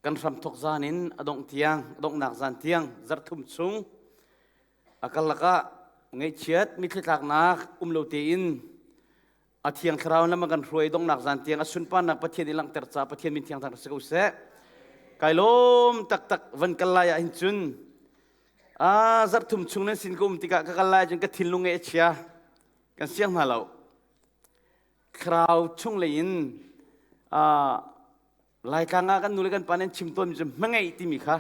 kan hramthok zan in a dongh tiang a donghnak zan tiang zarhthum chung a karlak ah ngaihchiat mithlithlaknak um lo tein a thiang thlarau lam a kan hruai donghnak zan tiang a sunparnak pathian i langhter ca pathian min thiang thang si ko seh kai lawm taktak van kal lai ah hin cun a zarhthum chung nan sin ka um tikah ka kal lai cun ka thinlung nge a chia kan siang hna lo thlarau chung lei in a Laitlang ah kan nule kan pa nih an chim tawnmi cu hmangeih timi kha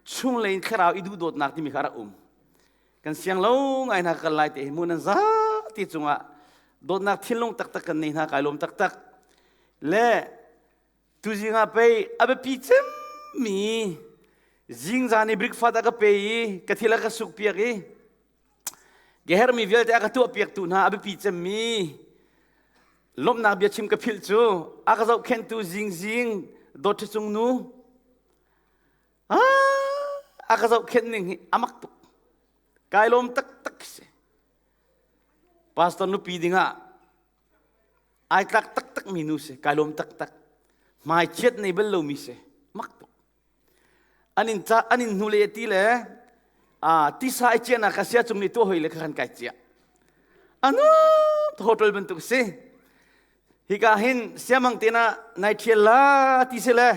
chunglei in thlarau i duhdawtnak timi kha a rak um. Kan siang lo ngai hna kal lai te hi mu nan za ti cungah dawtnak thinlung taktak kan nei hna kai lawm taktak le tuzing ah pei a biapi cemmi zingzan i breakfast a ka pe i ka thil a ka sukpiak i Ka herhmi vialte a ka tuahpiaktu hna a biapi cemmi lawmhnak bia chim ka philh cu a ka zohkhenhtu zingzing dawtṭha cung nu a ka zohkhenh ning hi a mak tuk kai lawm taktak si pastor nupi dingah ai tlak taktakmi nu si kai lawm taktak hmai chiat nei bal lomi si mak tuk an in ca an in hnule ti le a tisa i ciahnak kha sia cung ni tua hoi le kha khan kai cia anu hotel bantuk si hika hin siamang te na nai thiel la ti se le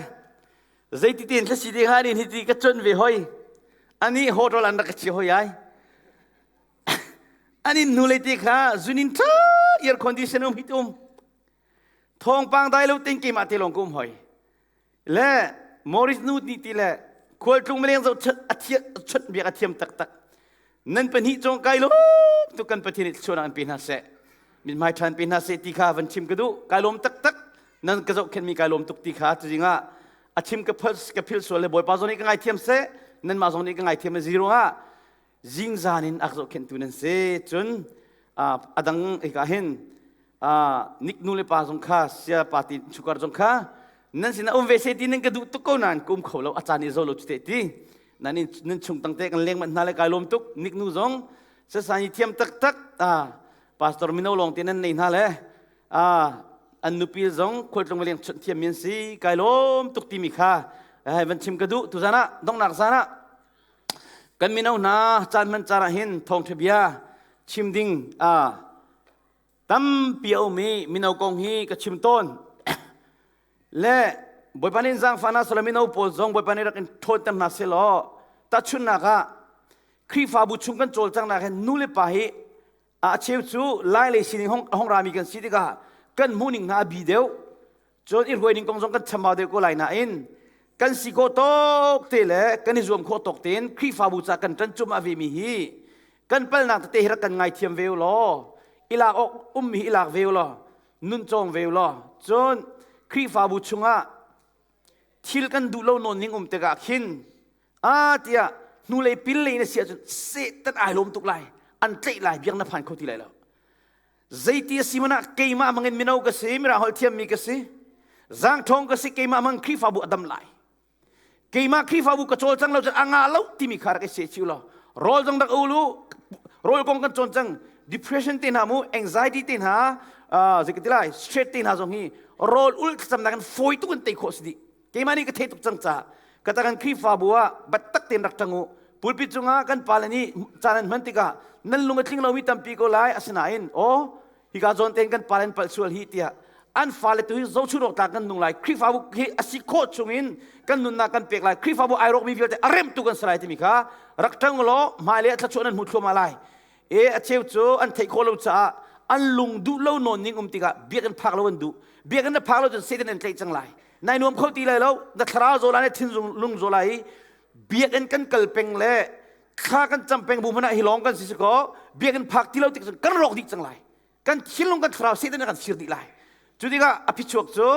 zeiti ten thla si te kha ni ti ka chon ve hoi ani hotel an rak ka chia hoi ai anin hnule te kha zunin tha air condition um hitum thawngpang dai lo ting ke mah te lawng kum hoi le Morris nu ni ti le khualtlung meleng zo chut biak a thiam taktak nan pahnih chong kai lo tu kan pathin i chuan an pe hna se min mai than pe hna se ti kha van chim ka du kai lom tak tak nan ka zo khen mi kai lom tuk ti kha tu zinga a chim ka phal ka phil sual le boy pa zo ni ka ngai thiam se nan ma zo ni ka ngai thiam zero ha zingzan in ak zohkhenhtu nan si cun a dang hika hin nik nu le pa zong kha sia party chukar zong kha nan sinah um ve se ti nan ka duh tuk ko nain kum kho lo a caan i zo lo cu te ti nan in nan chung tang te kan leng mat hna le kai lom tuk nik nu zong sasai thiam tak tak pastor mino long te nan nei hna le an nupi zong khualtlung leng chunh thiam min si kai lom tuk ti mi kha van chim ka duh tu zan ah dongnak zan ah Kan mino hna caan hman caan ah hin thawngṭha bia chim ding aa tampi a um i mino kong hi ka chim tawn. le Bawipa nih zaangfah hna sawla mino pawl zong Bawipa nih rak in ṭhawnter hna sehlaw tahchunhnak ah Khrihfabu chung kan cawlcanghnak hin nu le pa hi A cheu cu lai le sining a hong rami kan si tikah kan hmuhning hna a bi deuh. Cun i hruai ning kong zong kan chambau deuh ko lai nain kan si khawh tawk te le kan i zuam khawh tawk tein Khrihfabu ca kan ṭan cum ah vemi hi kan palnak tete hi rak kan ngaithiam ve u law i lak awk ummi hi i lak ve u law nun cawng ve u law cun Khrihfabu chungah thil kan duh lo nawn ning um tikah khin a tiah hnulei pinlei na si ahcun Satan ai lawm tuk lai an tlaih lai biak na phan kho ti lai lo zeiti a si mana keimah mangin mino ka si mira holh thiammi ka si zangthong ka si keimah mang khrifabu adam lai keimah khrifabu ka cawl cang lo cun anga lo timi kha rak i se chiu lo rol dang dak ulu rol kong kan cawn cang depression te hna mu anxiety te hna uh, zekati lai stress te hna zong hi rol ul thlacam nak in foi tu kan tei khawh si di keimah nih ka theih tuk cang ca ka ta kan khrihfabu ah battak tein rak ṭang u pulpit cungah kan pale nih caan an hman tikah nan lung a tling lomi tampi ko lai asinain aw hika zawn tein kan pale an palh sual hi tiah an fale tu hi zochurok tlak kan nung lai khrihfabu hi a si khawh chungin kan nunnak kan pek lai khrihfabu ai rawkmi vialte a remtu kan si lai timi kha rak ṭang u law hmailei ah thlachuah nan hmu thluahmah lai E a cheu cu an theih khawh lo caah an lung duh lo nawn ning um tikah biakinn phak lo an duh. Biakinn na phak lo cun Satan an tlaih cang lai. Nai nuam kho ti lai lo. Na thlarau zola na thinzung lung zola i biakinn kan kal peng le thla kan cam peng bu hmanh ah hi lawng kan si si kaw biakinn phak ti lo tik cun kan rawk dih cang lai. Kan thinlung kan thlarau Satan a kan sir dih lai. Cu tikah a phichuak cu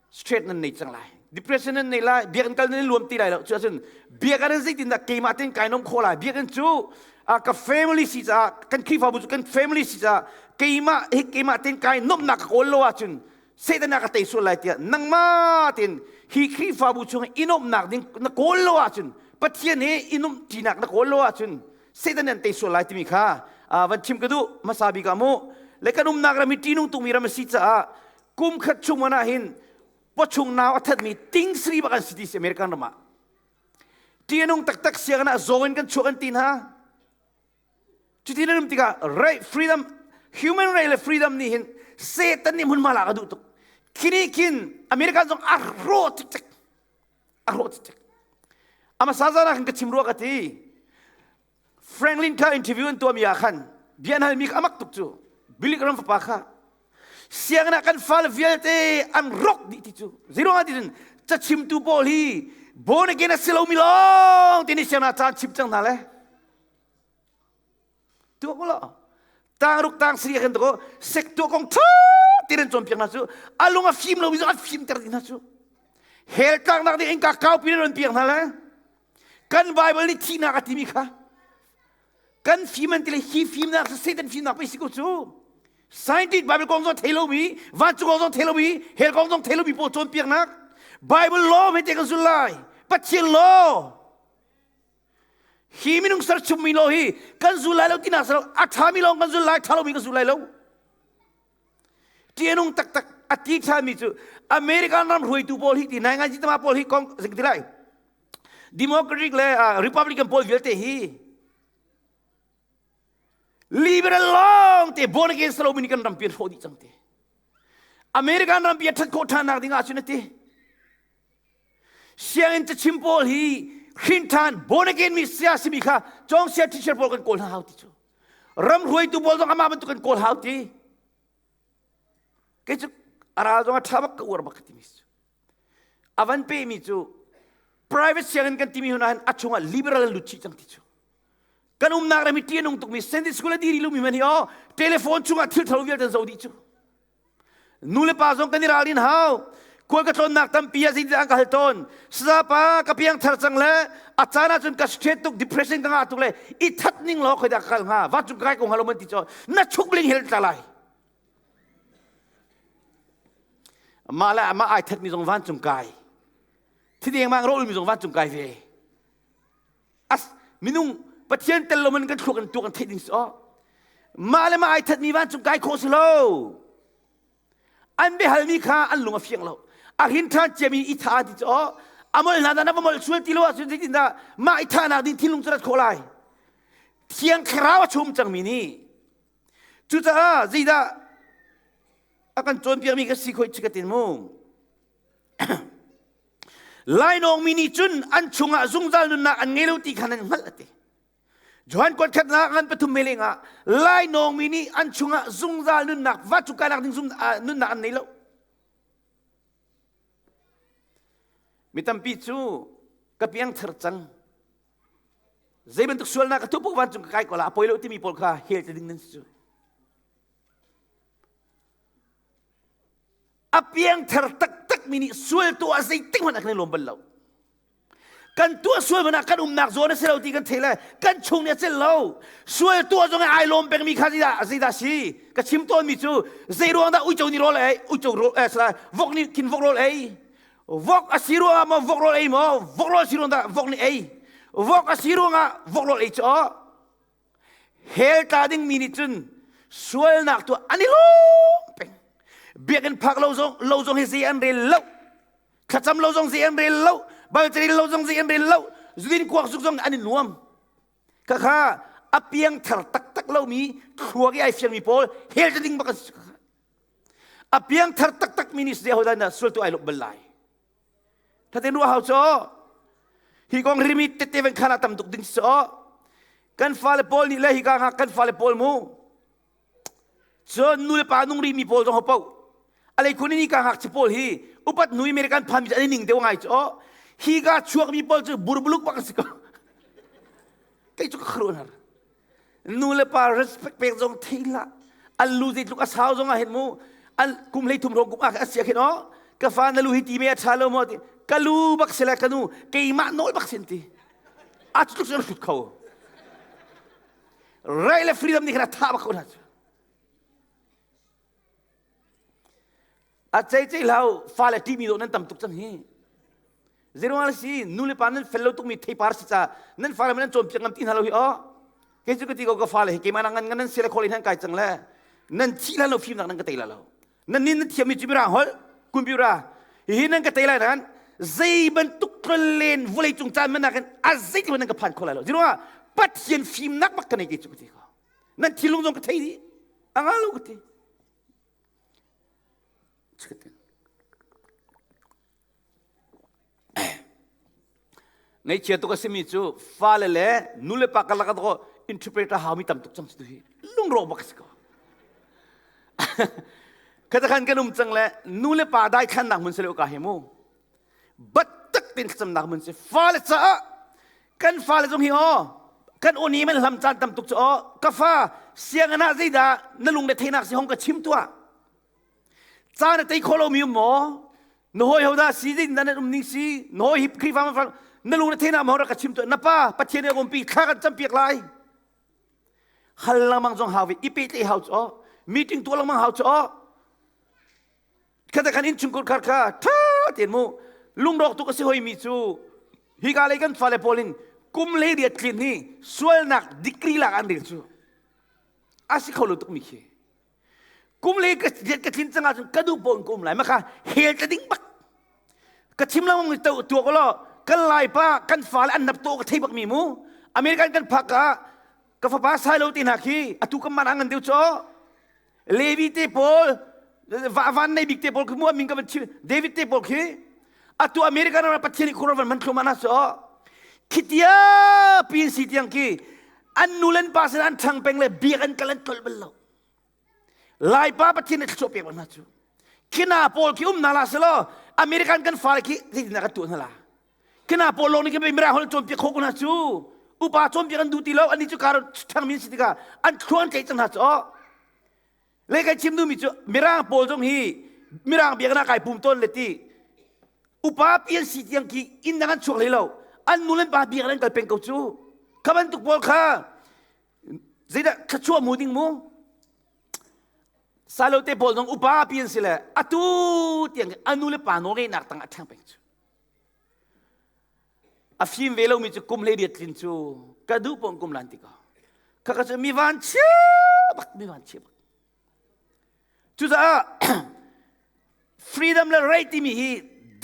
straight nan nei cang lai depression nan nei lai biakinn kal nan i luam ti lai lo cu ahcun biakinn in zeitindah keimah tein kai nom khawh lai biakinn cu uh, ka family si caah kan khrihfabu cu kan family si caah keimah hi keimah tein kai nomnak ka kawl lo ahcun satan a ka tei sual lai tiah nangmah tein hi khrihfabu chung i nomnak ding na kawl lo ahcun pathian he i nom ṭinak na kawl lo ahcun satan an tei sual lai timi kha uh, van chim ka duh hmasa bik ah mu le kan umnak ram hi ṭihnung tungmi ram a si caah kum khat chung man ah hin pachung nau a thatmi ting sari bak an si ti si American ram ah tianung taktak siang ah zaw in kan chuak an ti hna cuti na rum tikah right freedom human right le freedom nih hin satan nih mun mala ka duh tuk kini kin american zong a ro tik tik a ro tik tik ama sa zana kan ka chim ruwa ka ti Franklin kha interview an tuahmi ah khan bian halmi kha amak tuk cu bilik ram fapa kha sianginn ah kan fale vialte an rawk dih ti cu zeiruangah tiin cachimtu pawl hi born again a si lomi lawng ti nih sianginn ah caan chim cang hna le tuah ko law tang ruk tang sari kan tuah sector kong ṭha ti nan cawnpiak hna cu a lung a fim lomi cu an fimter dih hna cu hel tlaknak ding in ka kaupi nan piak hna le kan Bible nih thihnak a timi kha kan fim an ti le hi fimnak Satan fimnak pe si ko cu scientist Bible kong zong thei lomi vancung kong zong thei lomi hell kong zong thei lomi pawl cawnpiaknak Bible law hmete kan zul lai Pathian law hi minung ser chummi law hi kan zul lai lo tinak salo a ṭhami lawng kan zul lai ṭha lomi kan zul lai lo Tianung taktak a ti thalmi cu American ram hruaitu pawl hi ti nai ngai jitama pawl hi kong zing ti lai Democratic le uh, Republican pawl vialte hi liberal long te born against Romani kan ram pian hrawh dih cang te American ram pian that khawh than nak ding ah cun ati Sianginn cachim pawl hi hrinthan born again mi saya simi kha cawngsia teacher pawl kan kawl hna hau ti cu ram hruaitu pawl zong amah bantuk kan kawl hau ti kei cu a ral zong a ṭha bak ka uar bak ka timi cu a van pe mi cu private sianginn kan timi huna hin a chungah liberal an lut chih cang ti cu kan umnak ram hi ṭianung tukmi Sunday school a diri lumi man hi o telephone chungah thilthalo vialte an zo dih cu Nu le pa zong kan i ral in hau. Khual ka tlawnnak tampi ah zeitindah an ka hal tawn. Sizapa ka piangthar cang le a caan ah cun ka straight tuk depression ka ngah tuk le i that ning law khoi dah ka kal hnga. Va cung kai ko hnga lo man ti caw na chuk bling hel ta lai. Mah le mah ai that mi zong van cung kai. Thi deng mang ro mi zong van cung kai ve. minung pathian tel lo man kan thluak kan tu kan theih ding si oh mah le mah ai that mi vancung kai khawh si lo an biahal mi kha an lung a fiang lo a hin than ciami i tha ti cu oh amol hna dan amol sual ti lo ah cun tin da ma i tha nak ding thilung cu rat khawh lai thiang thlarau a chum cang mi ni cucaah zeidah a kan cawnpiak mi ka si khoi chi ka tin mu Lainawng mi nih cun an chungah zungzal nunnak an ngei lo ti kha nan hngalh a ti. Johan khuatkhat la ngan pathum me leng ah lainawng mi nih an chungah zungzal nunnak va cu kainak ding nunnak an nei lo. Mi tampi cu ka piang thar cang. Zei bantuk sualnak ka thup van cung ka kai ko la poi lo timi pawl kha hel te ding nan si. a piangthar taktakmi nih sualtuah ah zeitik hmanh ah kan i lawm bal lo kan tuah sual hmanh ah kan umnak zawn a si lo ti kan theih le kan chung nih a cel lo sual tuah zong ai lawm pengmi kha zeidah zeidah si ka chim tawnmi cu zei ruang dah uico ni rawl ei uico rawl eh, sala vok ni thin vok rawl ei vok a si ruang ah maw vok rawl ei maw vok rawl si ruang dah vok ni ei vok a si ruang ah vok rawl ei cu Hell tla dingmi nih cun sualnak tu an i lawm peng. Biakinn phak lo zong lo zong hi zei an rel lo. Thlacam lo zong zei an rel lo. Balcani lo zong zei an rel lo. Zudin kuak zuk zong an i nuam. Kakha a piang thar taktak lomi thluak i ai fiangmi pawl hel ta ding bak an si. A piang thar taktakmi nih zei hodah sultu ai luk bal lai. Thaten ruahau cho hi kong rimi tete ven khana tam tuk ding so kan fale pawl nih le hi ka kan fale pawl mu cun nu le pa nung ri mi pawl zong ho po alei khuni ni ka hak chi pawl hi upat nui mere kan phan mi ani ning deu ngai cho hi ka chuak mi pawl cu burbuluk bak si ko kei chu ka khru nar nu le pa respect pek zong thei hlah an lu zei tluk a sau zong ah hin mu an kum hlei thum ro kum ah asia khin o ka fa na lu hi ti me a tha lo mo ti ka lu bak sela ka nu keimah nawi bak sin ti a tluk se sut kho right le freedom ni khana tha bak ko na A cei cei lo fale ṭimi dawh nan tam tuk cang hi. Zeiruang si nule pa nan fel lo tukmi theipar si ca nan fale ma nan cawnpiak ngam ti hna lo hi aw. Kei cu ka ti ko ka fale hi keimah ngan nan sele khol nan kai cang le nan thi la lo fim nak nan ka tei la lo. Nan nin nan thiam mi cu mira hol kun biura hi nan ka tei lai nan zei bantuk len vulei cung caan man nakin a zei ti nan ka phan kho lai lo. Zeiruang pathian fim nak bak ka nei ke cu ka ti ko. nan thinlung zong ka thei dih a nga lo ka ti ngaichia tuk a simi cu fale le nu le pa karlak ah interpreter hau mi tam tuk cang si tu hi lungro bak si ko khatakhan kan um cang le nu le pa dai than nak mun se le ka hi mu Batak tein thlacamnak mun si fale caah kan fale zong hi aw kan uni man hlam caan tam tuk cu aw ka fa sianginn ah zeidah na lung le theinak si hong ka chim tuah caan a tei kho lo mi um maw na hoi ho da si din nan um ning si na hoi hi khrifa ma fang na lung le theinak ma ra ka chim tuah na pa pathian ka umpi thla kan campiak lai hal langmang zong hau ve i pe te hau chu meeting tu langmang hau chu khata khan in chungkur khar kha ṭha tein mu lungrawk tuk a si hoi mi cu hika lei kan fale pawl in kum le riat tlin hi sualnak degree lak an rel cu a si kho lo tuk mi khi kum le ka riat ka tlin cang ahcun ka duh pawn ka um lai maka hel ta ding bak ka chim lang mi to tua ko lo kan lai pa kan fale an nap to ka thei bak mi mu american kan phak ka ka fapa sai lo ti hna khi atu kan man angan deu cho Levi te pawl van nei bik te pawl khi mu min ka van chim David te pawl khi atu American ram Pathian khur van man thlum ana so khitia pin si tiang ki an nu len pa sin an thang peng le biak an kal an tol bal lo lai pa Pathian ne thlop pek ba na chu khina pawl khi um na la selo American kan fale khi ti na ka tu na la kena pawl lawng nih khin mira hol cawnpiak khawh ko hna cu upa cawnpiak an duh ti lo annih cu kar ṭhangmi an si tikah an thlu an tlaih cang hna cu le kai chim duhmi cu mirang pawl zong hi mirang biakinn ah kai pum tawn le ti upa pi an si tiang ki inn dang an chuak hlei lo an nu le pa biakinn an kal peng ko cu kha bantuk pawl kha zeidah thluachuah mu ding mu salote pawl zong upa pi an si le atu tiang a nu le pa nawl ngeinak tang a ṭhang peng cu A fim ve lomi cu kum hleiriat tlin cu ka duh paoh in kum lan tik ah kha ka cu mi vanchia bak mi vanchia bak cucaah freedom le right timi hi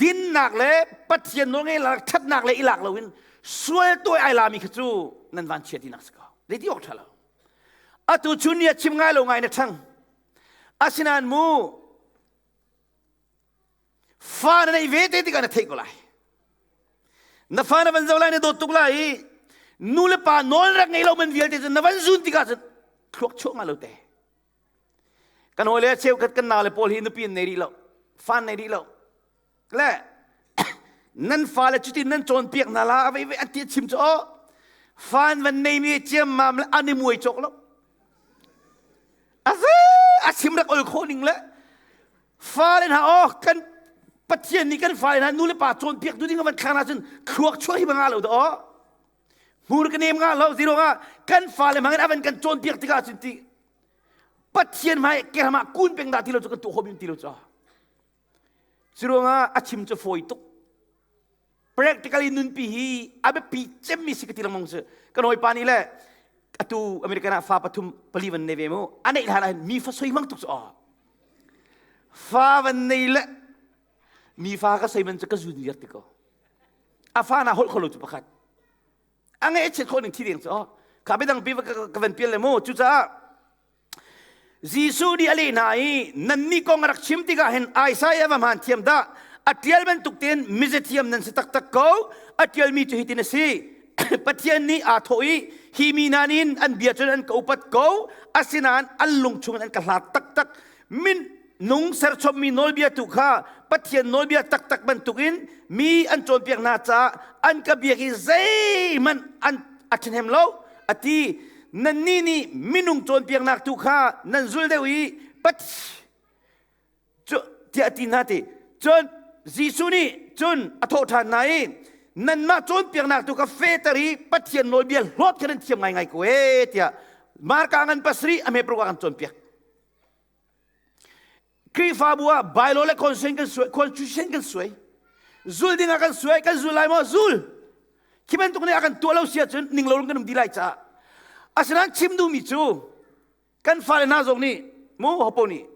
dinnak le pathian nawlnge la thatnak le i lak lo in sual tawi ai lami kha cu nan vanchia tinak si ko zeiti awk tha lo atu cu ni a chim ngai lo ngai na thang asinain mu fa na neih ve te tikah na theih ko lai na fa na van zoh lai na dawt tuk lai i nu le pa nawl rek ngei lo man vialte cu na van zun tikah cun thluak chuahma lo te kan hawi le cheu khat kan nau le paul hi nupi in nei rih lo fa nei rih lo le nan fale cuti nan cawnpiak hna la a vei vei an ti chim cu aw fan van nei mi ciam mam le an i muai chok lo a se a chim rek ol khawh ning le Fale hna aw kan Pathian nih kan fale hna nu le pa cawnpiak tu ding van thlang na cun thluak chuah hi nga lo da aw hmur ka nem nga lo zero nga kan fale mangin avan kan cawnpiak tikah cun ti Pathian mai keram ah kun peng da ti lo cu kan tu hom yun ti lo cha zero nga a chim cu foi tuk practically nunpi hi a biapi cemmi si ka ti lengmang cu kan hawipa nih le atu american ah fa pathum pali van nei ve mu a neih hlan ahhin mi fa soi mang tuk cu aw fa van nei le mi fa ka soi man cu ka zun liar ti ko a fa na holh kholo cu pakhat a nge chet khawh ning thi deng cu aw kha bedang pi ka van pial le mu cucaah Jesuh nih a leh hna i nannih kong a rak chim tikah hin Isaiah va hmaan thiam dah a ṭial bantuk tein mizathiam nan si taktak ko a ṭialmi cu hitin a si Pathian nih aa thawh i hi mi nan in an bia cun an ka upat ko asinain an lung chungin an ka hlat taktak min nung serchommi nawlbia tu kha Pathian nawlbia taktak bantukin mi an cawnpiak hna caah an ka biak i zeihmanh an a ṭhahnem lo a ti nannih nih minung cawnpiaknak tu kha nan zul deuh i Pathian tiah a ti hna ti cun Jesuh nih cun a thawh ṭhan hna i nanmah cawnpiaknak tu kha fehter i Pathian nawlbia hlawt kha nan thiam ngaingai ko ee tiah Marka ngan pasarih a hmepruk ah kan cawnpiak Khrihfabu ah bylaw le constitution kan suai, constitution kan suai. Zul dingah kan suai, kan zul lai maw? Zul. Khi bantuk nih a kan tuah lo si ahcun ning lo rung kan um dih lai caah. Asinain chim duhmi cu kan fale hna zong nih mu hopo nih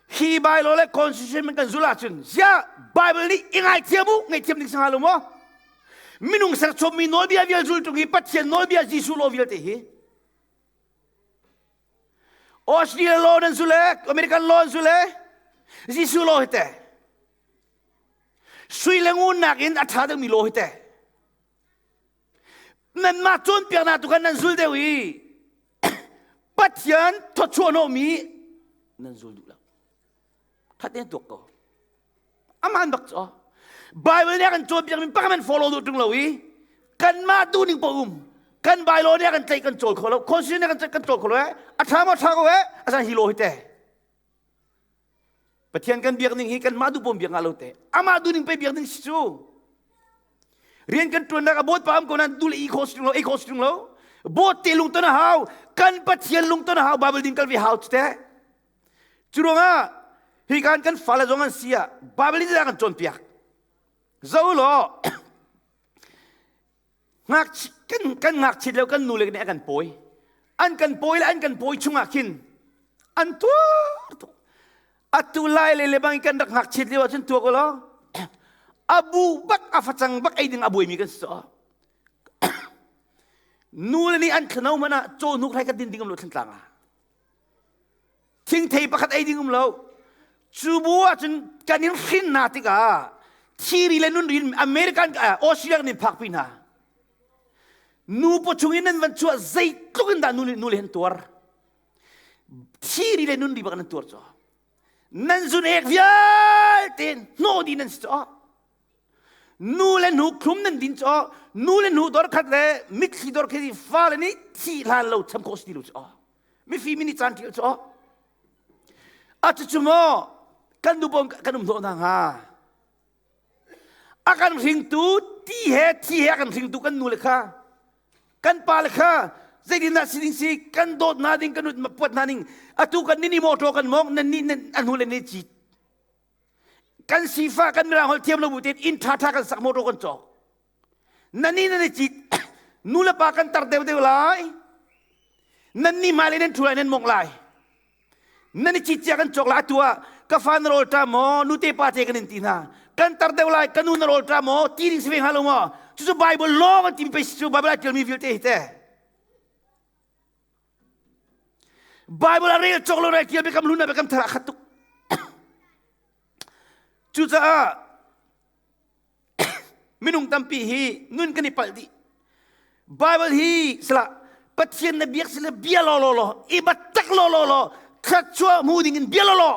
hi bylaw le constitution kan zul ahcun ziah Bible nih i ngaithiam u ngaithiam ding sangha lo maw? Minung serchom mi nawlbia vial zul tlung hi Pathian nawlbia Jesuh law vialte hi Australia law nan su le American law nan su le Jesuh law hite sui le ngun nakin a ṭha deuhmi law hite nanmah cawnpiaknak tu khan nan zul deuh i Pathian thawchuah hnawhmi nan zul duh lo. Khat ne tuak ko. aman bak cho bible nih kan cawn piak min pak men follow du tling lo i kanmah tu ning po um kan bylaw nih kan tlaih kan cawl kho lo constitution nih kan kan cawl kho lo eh a tha mo tha ko eh asan hi lo hi te pathian kan biak ning hi kan mah du pom biak nga lo te ama du ning pe biak ning si chu rian kan tuan nak abot pa am ko nan dul i constitution lo i constitution lo bot te lung to na hau kan pathian lung to na hau bible din kal vi hau te Cu ruangah hi kan kan fale zong an si ah Baibal in kan cawnpiak. Zo law ngakchia, kan, kan ngakchiat le kan nu le nih a kan pawi. An kan pawi le an kan pawi chungah khin an tuar atu lai le le bang kan rak ngakchiat lio ahcun tua ko law abu bak a facang bak ei ding a buaimi kan si nu le nih an thano hmanh ah caw hnuk hrai kan din ding um lo thlantlang ah thingthei pakhat ei ding um lo cu bu ahcun kan in hrin hna tikah thiri le nunri in American Australia kan in phakpi hna nupaw chung in nan van chuah zeitluk in dah nule nule an tuar thiri le nunri bak nan tuar caw nan zun ek vialte hnawh di nan si caw nu le nu thlum nan din cu nu le nu dor khat le mitthli dor khat i fale nih thi hlan lo cham khawh si ti lo cu mifim in i caan ṭial cu a cucu maw kan nu bom kan um hnawh hna hnga a kan hringtu ti he thi he a kan hringtu kan nu le kha kan pa le kha zeitindah si ding si kan dawt hna ding kan puat hna ning atu kan ni ni mawṭaw kan mawng nan ni a hnu le ne cit kan sifah kan mirangholh thiam lo bu tein inn ṭhaṭha kan sak motor kan cawk nanni nan i cit nu le pa kan tar deuhdeuh lai nanni hmai lei nan ṭhu lai nan mong lai nan i cit cia kan cawk lai atu ah ka fa na rawl ṭa maw nute pa te kan in ti hna kan tar deuh lai ka nu na rawl ṭa maw ti ding si ve hnga lo maw cucu bible law an ti pei cu bible a ṭialmi vialte hi teh Bible a rel cawk lo rai tial biakam luna biakam thar a khat tuk. Cucaah minung tampi hi nun kan i palh dih. Bible hi sala Pathian na biak sila bia lo lo lo i batak lo lo lo thluachuah mu ding in bia lo lo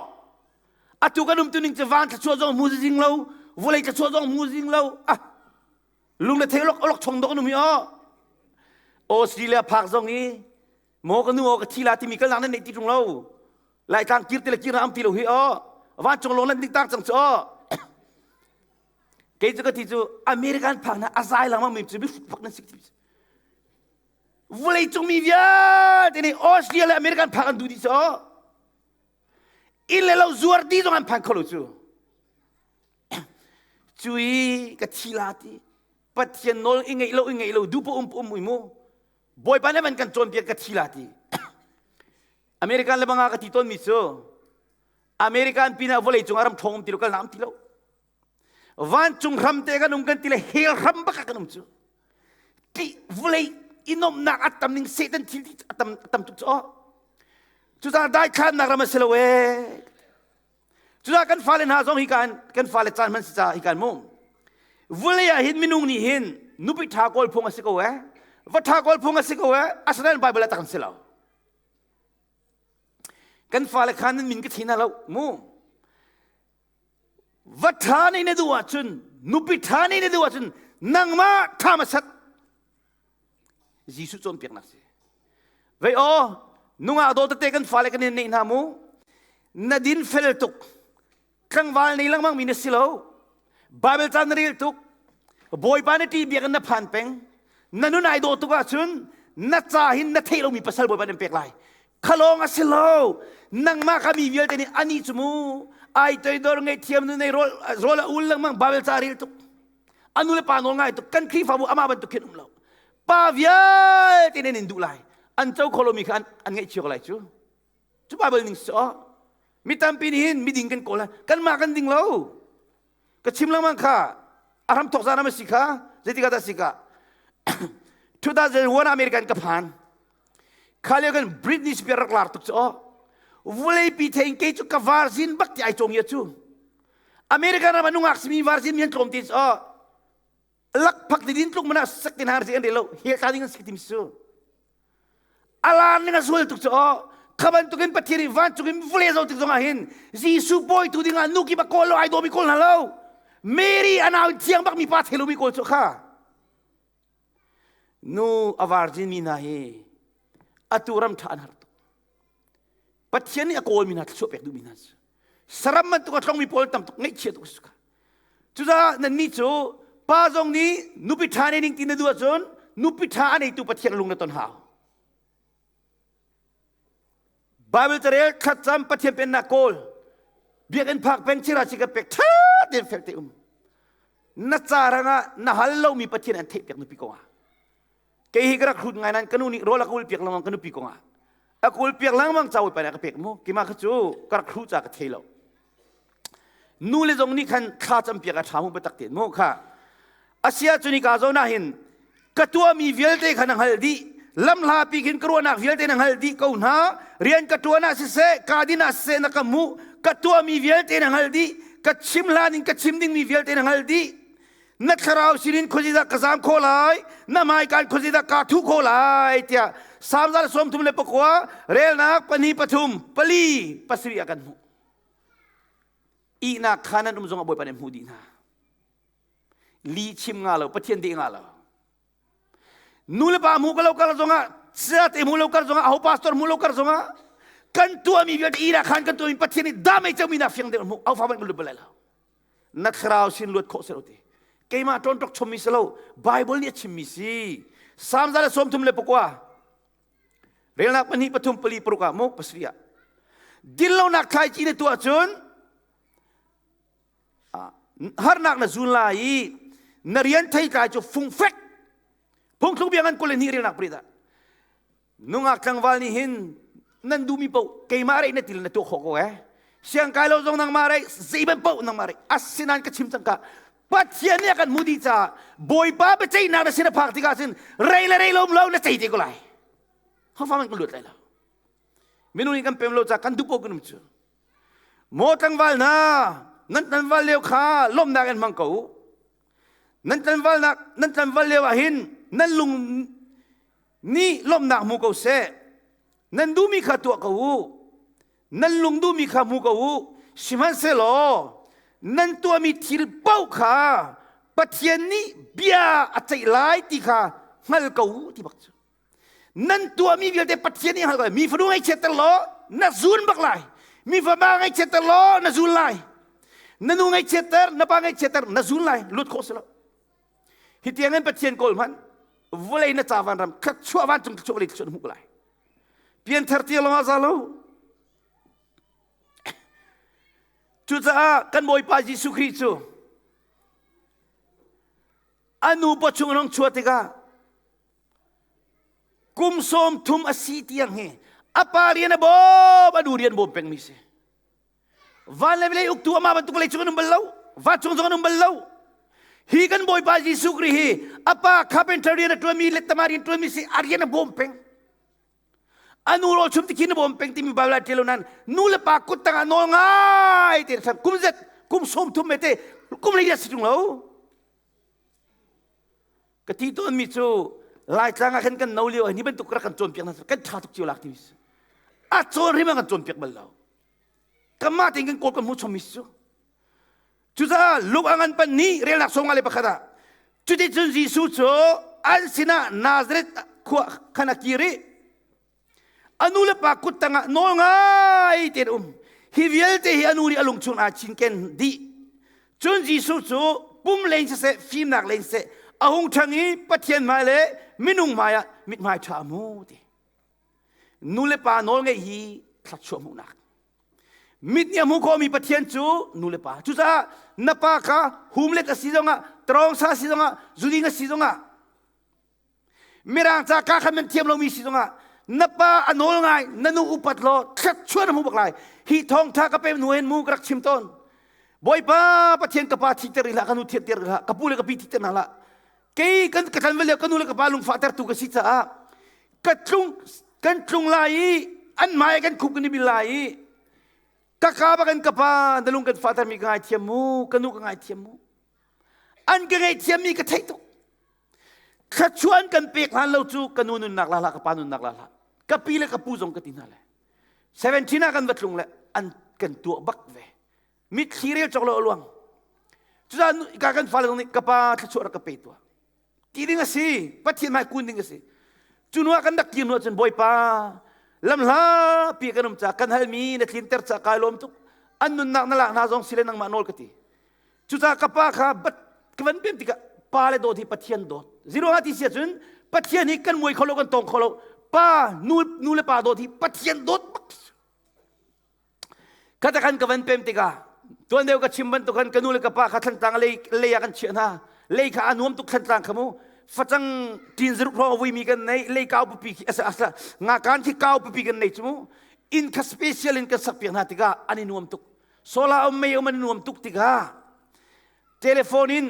atu kan um tuning chu van thluachuah zong mu ding lo vawlei thluachuah zong mu ding lo ah Lungle thei olok olok chong dok nu mi o. Australia park zong i mo ka nu o ka thila timi kal nang nan nei ti tung lo. Lai tlang kir tila kir na am ti lo hi o. Van chong long lan dik tar chang chu o. Kei chu ka ti chu American park na azai lang mang mi chu bi fut fak nan sik ti. Vulei cung mi vialte nei Australia le American park an du di so. In le lo zuar ti zong an phan kho lo chu. cui ka thi la ti pathian nawl i ngeih lo i ngeih lo dupa um um mui mu bawipa le man kan cawn piak ka thi la ti american le banga ka ti ton mi cu american pinah vawlei cung aram ṭhawng um ti lo kal naam ti lo vancung ram te kan um kan ti le hel ram baka kan um cu ti vawlei inomnak atam ning satan thil ti atam atam tuk cu cucar dai khannak ram a si lo e Cucaah kan fale hna zong hi kan fale caan hman si caah hi kan mu. Vulei ah hin minung nih hin nupi ṭha kawl phung a si ko ee, va ṭha kawl phung a si ko ee, asinain Baibal ah tak an si lo. Kan fale khan nan min ka thi na lo mu. Va ṭha nih na duh ahcun, nupi ṭha nih na duh ahcun, nangmah ṭha ma sat. Jesuh cawnpiaknak si. Vei aw nungah daw tete kan fale kan in nei hna mu. Na din fel tuk. Tlangval nei lengmang mi na si lo. Bible chan na rel tuk. Bawipa na ti biak na phan peng. Na nun ai daw tuk ahcun na ca hin na thei lomi pasal bawipa nan pek lai. Khalong a si lo. Nangmah ka mi vialte nih ani cu mu. Ai toidor ngei thiam nu nei rol a ul lengmang Bible ca rel tuk. anu le pa nawl ngai tuk kan khrihfabu amah bantuk khin um lo pa vialte nan in duh lai an co kho lomi kha an, an ngaih cio ko lai cu cu bible ning si oh mi tampi nih hin miding kan kawl lai kanmah kan ding lo ka chim lengmang kha a ram thawk zan am a si kha zeitikah dah si ka 2001 American ka phan Kha lio kan British bia rak lar tuk cu aw. Vuleipi thein kei cu ka varzin bak ti ai cawng ya cu. American ram an nungak simi varzin mi an tlawm te aw. Lakphak didin tluk mana sak tin har si an re lo. Hel ta ding an si tim su. Alar ning a sual tuk cu aw. Khaban tukin Pathian i vancungin vule zo tik zongah hin Jesuh bawi tu dingah nu ki bak kawl lo ai do mi kawl hna lo. Mary anau thiang bak mi pa thelu mi kawl cu kha. Nu a varzinmi hna hi atu ram ṭha an har tuk. Pathian nih a kawlmi hna thluachuah pek duhmi hna cu saram bantuk a tlongmi pawl tam tuk ngeihchia tuk a si ka. Cucaah nannih cu pa zong nih nupi ṭha nening ti na duh ahcun nupi ṭha a neitu Pathian lung na ton hau. Baibal carel thlacam Pathian pennak kawl biakinn phak peng chira si kan pek ṭhat in fek te um na carang ah na hal lomi Pathian an theih piak nupi kong ah kei hi ka rak hrut ngai nan kanu nih rawl a ka ul piak lengmang kanu pi kong ah a kul piak lengmang cawi pa nih a ka pek mu kima kha cu ka rak hru ca ka thei lo nu le zong nih khan thla campiak a ṭha mu biatak te mu kha asia cu nika zona hin ka tuahmi vialte kha na hngalh dih lamhlapi khin ka ruahnak vialte na hngalh dih ko hna rian ka ṭuan ah siseh ka din ah siseh na ka hmuh ka tuahmi vialte na hngalh dih ka chim hlan in ka chim dingmi vialte na hngalh dih na thlarau sinin khawzidah ka zam kho lai na hmaikan khawzidah ka thu kho lai tiah samzal sawm thum le pakua relnak pani pathum pali pasarih a kan hmuh ihnak kha nan um zongah Bawipa nih a hmuh dih hna lihchim nga lo pathian deh nga lo nulepa hmu ka lo kar zongah cate hmu lo kar zongah aho pastor hmu lo kar zongah kan tuahmi vialte ihnak khan kan tuahmi pathian nih damei cangmi nak fiang deuh hmuh au fa ban luat balai lo na thlarau sin luat khawh selo ti keimah ṭon ṭok chommi selo bible nih a chimmi si psalm zale sawm thum le pakua Relnak pahnih pathum pali paruk ah muk pasarih ah dillonak thlai ci na tuah cun harnak na zun la i na rian thei tlai cu fungfek phungthluk biang an kul hnih relnak prit ah nungak tlangval nih hin nan duhmi poh keimah rei na til na tuah khawh ko eh siang kai lo zong nangmah rei zei ban poh nangmah rei asinain ka chim cangka Pathian nih a kan hmuh dih caah Bawipa biaceihnak na sin a phak tikah cun rei le rei lo um lo na cei te ko lai. Hangfa hmanh kan luat lai lo. Minung nih kan pem lo caah kan duh paoh kan um cu. Maw tlangval hna, nan tlangval leo kha lawmnak in hmang ko u. Nan tlangvalnak nan tlangval leo ah hin nan lung nih lawmnak hmu ko seh. Nan duhmi kha tuah ko u. nan lung duhmi kha hmu ko u sihmanhsehlaw nan tuahmi thil paoh kha Pathian nih bia a ceih lai ti kha hngal ko u ti bak cu nan tuahmi vialte Pathian nih hngal ko mi fanu ngaihchiatter law na zun bak lai mi fama ngaihchiatter law na zun lai na nu ngaihchiatter na pa ngaihchiatter na zun lai lut khawh si lo Hi tiang in Pathian kawl hmanh vawlei na ca van ram khat chuah van cung chuak li chuan hmuh lai. Pianthar tia lawng ah za lo. Cucaah kan Bawipa Jesuh Khrih cu a nu pa chung rong chuah tikah kum sawm thum a si tiang hi a pa rian a bawm a nu rian bawm pengmi si. van le vawlei uktu amah bantuk vawlei cung an um bal lo va cung zong an um bal lo hi kan bawipa jesuh kri hi apa carpenter rian a tuanmi lettama rian tuanmi si a rian a bawm peng anu rawl chum tikhin a bawm peng timi bible ah ṭialo nan nu le pa kut tangah nawl ngai te san kum zet kum sawm thum me te kum le si tung lo ka ti to mi cu lai tlang ah khan kan no lio ni bantuk rak kan cawn piak na kan ṭha tuk cio lak ti a cawn rim kan cawn piak bal lo Kanmah tein kan kawl kan hmu chungmi cu. Cucaah Luke a ngan pan ni relnak sawm nga le pakhat ah cuticun Jesuh cu an sinah Nazareth khua khan a kir i a nu le pa kut tangah nawl ngai tein um hi vialte hi a nu nih a lung chung aa cinken dih cun Jesuh cu pum leng siseh fimnak leng siseh a hung ṭhang i Pathian hmai le minung hmaiah mithmai ṭha a mu ti nulepa nawl ngeih hi thluachuah hmuhnak mit nih a hmu khawmi pathian cu nulepa cucaah na pa kha humlet a si zongah trawngsa a si zongah zuling a si zongah mirang ca ka khan nan thiam lomi si zongah na pa a nawl ngai na nu upat law thluachuah na hmu bak lai hi thawngtha ka pe hnu hen mu ka rak chim tawn bawipa pathian ka pa thihter ila ka nu thianter ila ka pu le ka pi thihter hna la kei kan ka ṭan va leo ka nu le ka pa lungfah tertu ka si caah ka tlung kan tlung lai i an hmai kan khuk kan i bil lai i ka ka ba kan ka pa na lung kan fahtermi ka ngaithiam mu ka nu ka ngaithiam mu an ka ngaithiammi ka theih tuk thluachuan kan pek hlan lo cu ka nu nunnak la hlah ka pa nunnak la hlah ka pi le ka pu zong ka ti hna le 17 ah kan va tlung le an kan tuah bak ve mitthli rel cawk lo a luang cucaah ka kan fale nih ka pa thluachuah rak ka pe tua ti ding a si pathian hmai kun ding a si cu hnuah kan rak kir hnu cun bawipa lam hla pi kan um ca kan halmi na tlinter ca kai lawm tuk an nunnak na lak hna zong sile nangmah nawl ka ti cucaah ka pa kha bat ka van pem tikah pa le dawt hi pathian dawt zero ha ti sia cun pathian hi kan muai kho lo kan tong kho lo pa nu nu le pa dawt hi pathian dawt bak Kata khan ka van pem tikah tuan deu ka chim bantuk khan ka nu le ka pa kha thlantlang lei lei ah kan chiah hna lei kha a nuam tuk thlantlang kha mu facang ṭin zaruk hrawng a vuimi kan nei lei kau pupi khi asa asa nga kan khi kau pupi kan nei cu mu inn kha special in kan sak piak hna tikah an i nuam tuk sola om mei om an nuam tuk tikah telephone in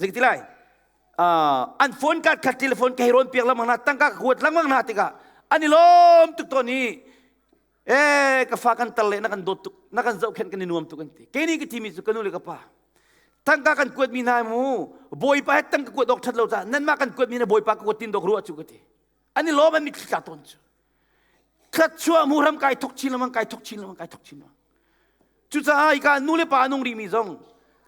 zikti lai an phone card khat telephone ka hei rawn piak lamang hna tangka ka kuat lamang hna tikah an i lawm tuk ton i Eh ka fa kan tar le na kan dawt tuk na kan zohkhenh kan i nuam tuk an ti keini ka timi cu ka nu le ka pa tangka kan kuat mi hna mu bawipa he tang ka kuat awk that lo ta nan mah kan kuat mi na bawipa ka kuat tin dok ruwa chu ka ti ani lom an mi thla ton chu thlat chua mu ram kai thok chin lamang kai thok chin lamang kai thok chin lamang Cucaah ika nu le pa nung rihmi zong